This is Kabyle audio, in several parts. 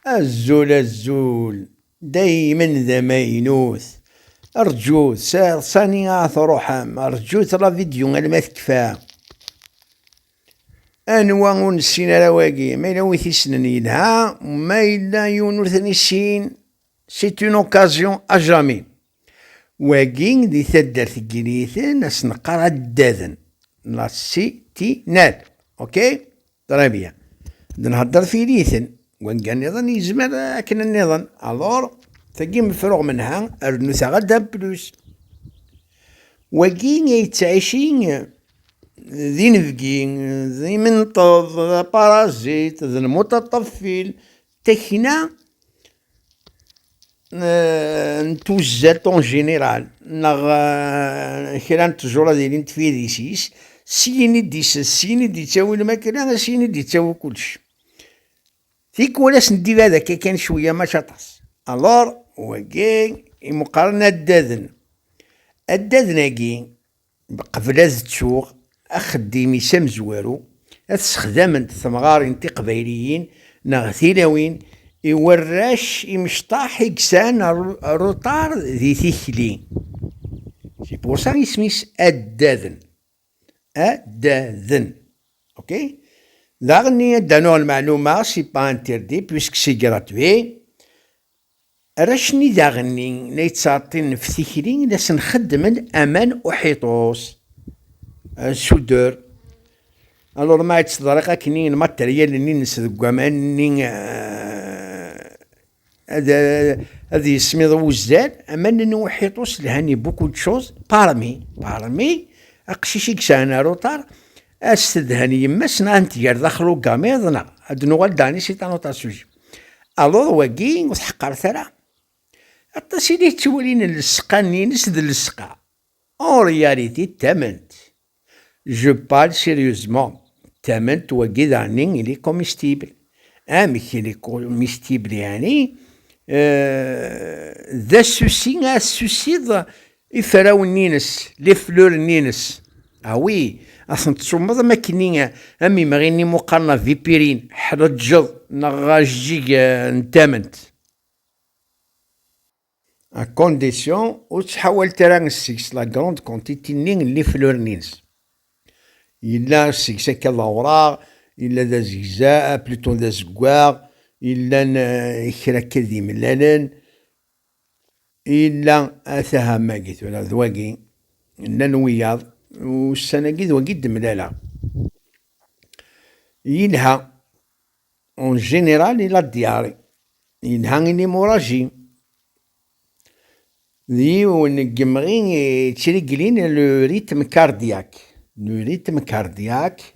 Azul azul daymen d amaynut rǧut sar sani a truḥem rǧut la vidéo alma tekfa anwa ur nessin ara wagi ma yella win t-issnen yelha ma yella yiwen ur ten-issin c'est une occasion à jamais wagi di taddart n Yiniten as-neqqar addaden la city nal ok Très bien. D nhedder fil-iten. Wanga niḍen yezmer akken niḍen. Alors, tagi mefruɣ menha, rnu taɣa d'un plus. Wagi yettɛici d inebgi, d imenṭeḍ, d aparazit, d lmuṭaṭaf fil. Takina n tuzzalt en général neɣ kra n tẓura d ilin tfirisis syin i d-isses syin i d-yettawi lmakla syin i d-yettawi kullec tikwal as n d-ibad akka kan cwiya maca aṭas alors wagi imuqaren addaden addaden-agi Qbel ad ttuɣ axeddim-is amezwaru, ad t-sexdament temɣarin tiqbayliyin neɣ tilawin i warrac imecṭaḥ i yesɛan aruṭar di tikli. C'est pour ça isem-is Addaden. Addaden. Ok? Daɣenni ad d-anuɣ lmeɛluma, c'est pas interdit puisque c'est gratuit. Arrac-nni daɣen-nni la yettɛeṭṭilen ɣef tikli, la sen-xeddmen aman uḥiṭus, soudeur. Alors ma tt-ḍriɣ akken i lmateryal-nni-nnes deg waman-nni ad yesmiḍ wuzzal, aman-nni uḥiṭus lhan i beaucoup de choses, parmi, parmi, aqcic i yesɛan aruṭar, ad s-tedhen yemma-s neɣ ad n-tger daxel ugamiḍ neɣ ad d-nuɣal dernier c'est un autre sujet. Aluḍ wagi ur tḥeqqret ara. Aṭas i la yettwalin llesqa-nni-ines d llesqa. En réalité ttament. Je parle sérieusement. Ttament wagi daɣenni il est comestible. Amek il est comestible yeɛni euh, d asusi ad tusiḍ Iferrawen-ines, les fleurs-ines. Ah oui, a tent-tsummeḍ am akken am imɣi-nni muqaren a Vipirin, ḥreǧǧeḍ neɣ ajeǧǧig n tament. À condition ur ttḥawalet ara seg-s la grande quantité-nni n les fleurs-ines. Yella seg-s akka d awraɣ, yella d azegza, plutôt d azeggaɣ, yellan kra akka d imellalen, Yella ataham-agi tura d wagi, llan wiyaḍ, ussan-agi d wagi d-mlaleɣ. Yelha, en général il a diarrhée, yelha il est moragé. D yiwen n yemɣi yettreglin le rythme cardiaque, le rythme cardiaque,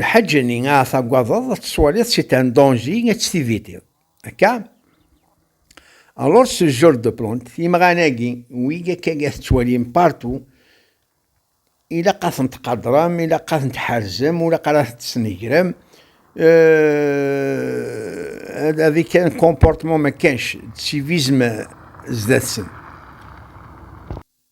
Lḥaǧa-nni ara tagadeḍ ad tettwaliḍ c'est un danger ad tt-tivitiḍ. Akka? Alors ce genre de plante, imɣan-agi, wigi akka i tettwalim partout, ilaq ad ten-tqadrem, ilaq ad ten-tḥerzem, ilaq ad ten-tesnegrem, euh, avec un comportement ma kanx, de civisme sdat-sen.